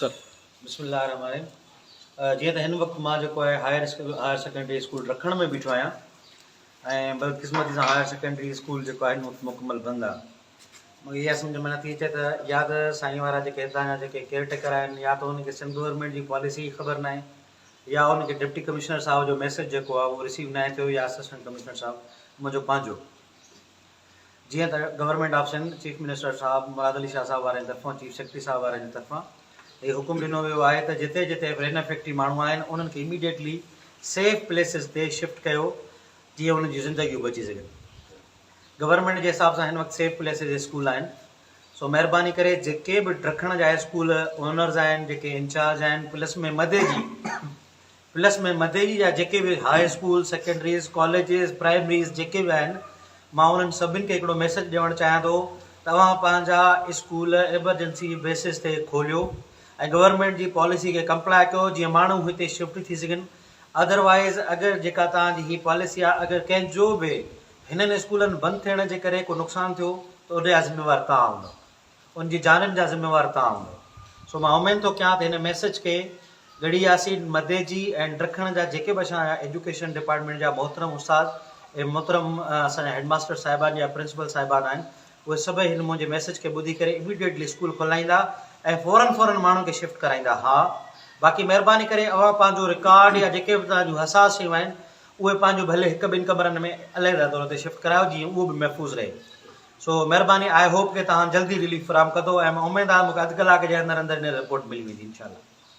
سر بسم الله الرحمٰن الرحيم جيئن ته هن وقت مان جيڪو آهي higher school higher secondary school رکڻ ۾ بيٺو آهيان ۽ بدقسمتي سان هائر سيڪنڊري اسڪول جيڪو آهي هن مڪمل بند آهي مگر اها سمجھ ۾ نٿي اچي ته يا ته سائين وارا جيڪي هتان جا جيڪي ڪيئر ٽيڪر آهن يا ته هن کي سنڌ گورنمنٽ جي پاليسي جي خبر ناهي يا هن کي ڊپٽي ڪمشنر صاحب جو ميسج جيڪو آهي اهو رسيو ناهي ٿيو يا اسسٽنٽ ڪمشنر صاحب منهنجو پنهنجو جيئن ته government of Sindh, chief minister صاحب مراد علي شاهه صاحب وارن طرفان، چيف سيڪريٽري صاحب وارن طرفان هي حڪم ڏنو ويو آهي ته جتي جتي رين افيڪٽي ماڻهو آهن انهن کي اميڊيٽلي سيف پليسز تي شفٽ ڪيو جيئن انهن جون زندگيون بچي سگهن. گورنمينٽ جي حساب سان هن وقت سيف پليسز اسڪول آهن سو مهرباني ڪري جيڪي به ڊکڻ جا اسڪول اونرز آهن جيڪي انچارج آهن پلس ۾ مدي جي پلس ۾ مديري جا جيڪي به high school, secondaries, colleges, primaries جيڪي به آهن مان انهن سڀني کي هڪڙو ميسيج ڏيوڻ چاهيان ٿو ته اوهان پنهنجا اسڪول ايمرجنسي بيسز تي کوليو ۽ گورنمينٽ جي پاليسي کي ڪمپلائي ڪيو جيئن ماڻهو هتي شفٽ ٿي سگهن اڌروائيز اگر جيڪا توهان جي هي پاليسي آهي اگر ڪنهن جو به هنن اسڪولن بند ٿيڻ جي ڪري ڪو نقصان ٿيو ته ان جا ذميوار توهان هوندو. ان جي جانن جا ذميوار توهان هوندؤ. سو مان امين ٿو ڪيان ته هن ميسج کي ڳڙهي ياسين مديجي ۽ ڊکڻ جا جيڪي به اسان جا ايجوڪيشن ڊپارٽمينٽ جا محترم استاد ۽ محترم اسان جا هيڊ ماستر صاحبان يا پرنسپل صاحبان آهن اهي سڀئي هن منهنجي ميسج کي ٻڌي ڪري اميڊيٽلي اسڪول کولائيندا ۽ فورن فورن ماڻهن کي شفٽ ڪرائيندا ها باقي مهرباني ڪري اوهان پنهنجو رڪارڊ يا جيڪي به توهان جون حساس شيون آهن اهي پنهنجو ڀلي هڪ ٻن ڪمرن ۾ عليحده طور تي شفٽ ڪرايو جيئن اهو به محفوظ رهي. سو مھرباني آئي ھوپ ڪي تھان جلدي رليف فراھم ڪندو ۽ مان اميد آھي مونکي اڌ ڪلاڪ جي اندر اندر ھن رپورٽ ملي ويندي انشاء الله.